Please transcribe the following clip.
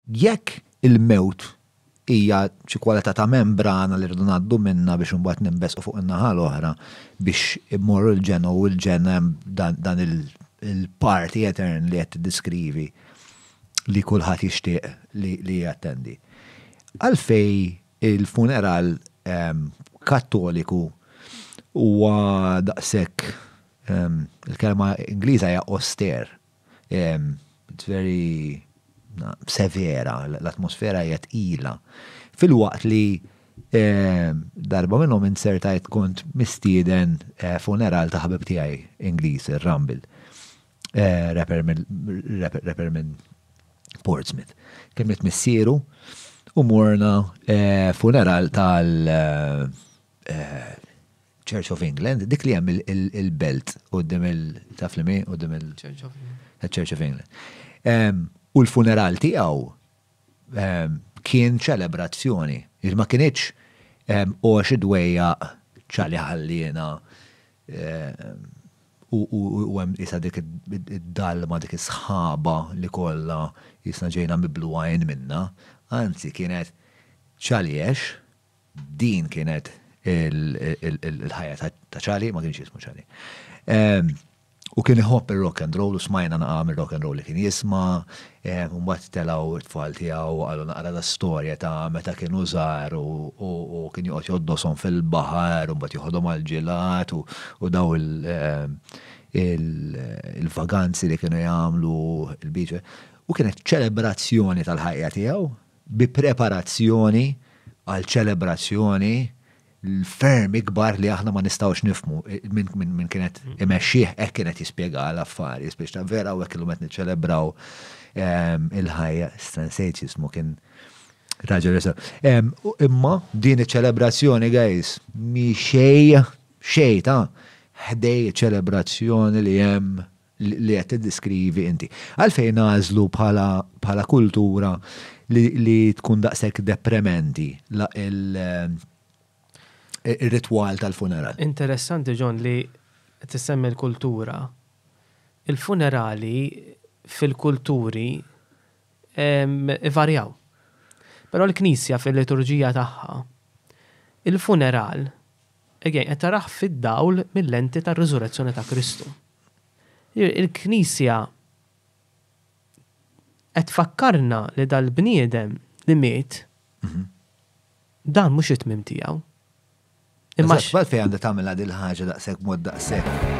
Jekk il-mewt hija xi kwalità ta' membrana li rridu ngħaddu minnha biex imbagħad ninbesqu fuq in-naħa l-oħra biex immorru l-ġenn u l-ġenn hemm dan il-party etern li qed tiddeskrivi li kulħadd jixtieq li jattendi. Għalfejn il-funeral Kattoliku huwa daqshekk, il-kelma Ingliża hija austere, It's very severa, l-atmosfera hija tqila. Fil-waqt li darba minnhom inzertajt kont mistieden funeral ta' ħabib tiegħi Ingliż, ir-Rumble, rapper minn Portsmouth. Kellimt missieru u morna funeral tal- Church of England, dik li hemm il-belt qudiem il-taf li u dim il-Church of England. Church of England. U l-funeral tiegħu kien ċelebrazzjoni. Ma kienieċ u xi dwejja ċali ħalliena u hemm isa dik id-dalma dik is-sħaba li kollha jisna ġejna miblu għajn minna. Anzi kienet ċaliex Din kienet il-ħajja ta' Charlie, ma kienx jismu Charlie. Ehm, u kien iħobb il-rock and roll, u smajna naqam il-rock and roll li kien jisma, ehm, un bat telaw it-tfal tijaw, għallu naqra da storja ta' meta kien użar u kien juqot joddosom fil-bahar, un bat juħodom għal-ġilat u daw ehm, il-vaganzi li kienu jgħamlu il-biċe. U kienet ċelebrazzjoni tal-ħajja tijaw, bi preparazzjoni għal ċelebrazzjoni ferm ikbar li aħna ma nistgħux nifhmu minn kienet imexxih hekk kienet jispjega l-affarijiet biex ta' vera u hekk illum qed niċċelebraw ehm, il-ħajja Stransejt jismu kien raġel ehm, Imma din iċ-ċelebrazzjoni guys mi xej xej ta' ħdej ċelebrazzjoni li hemm li qed tiddeskrivi inti. Għalfejn nagħżlu bħala kultura li tkun daqshekk deprementi ir-ritwal tal-funeral? Interessanti John li tissemmi l-kultura. Il-funerali fil-kulturi ivarjaw. Però l-Knisja fil-liturġija tagħha, il-funeral qed tarah fid-dawl mil-lenti tar-riżurezzjoni ta' Kristu. Il-Knisja qed tfakkarna li dal-bniedem li miet, dan mhux it-tmiem tiegħu. Imma x'għalfejn għandha tagħmilha din il-ħaġa daqshekk mod daqshekk?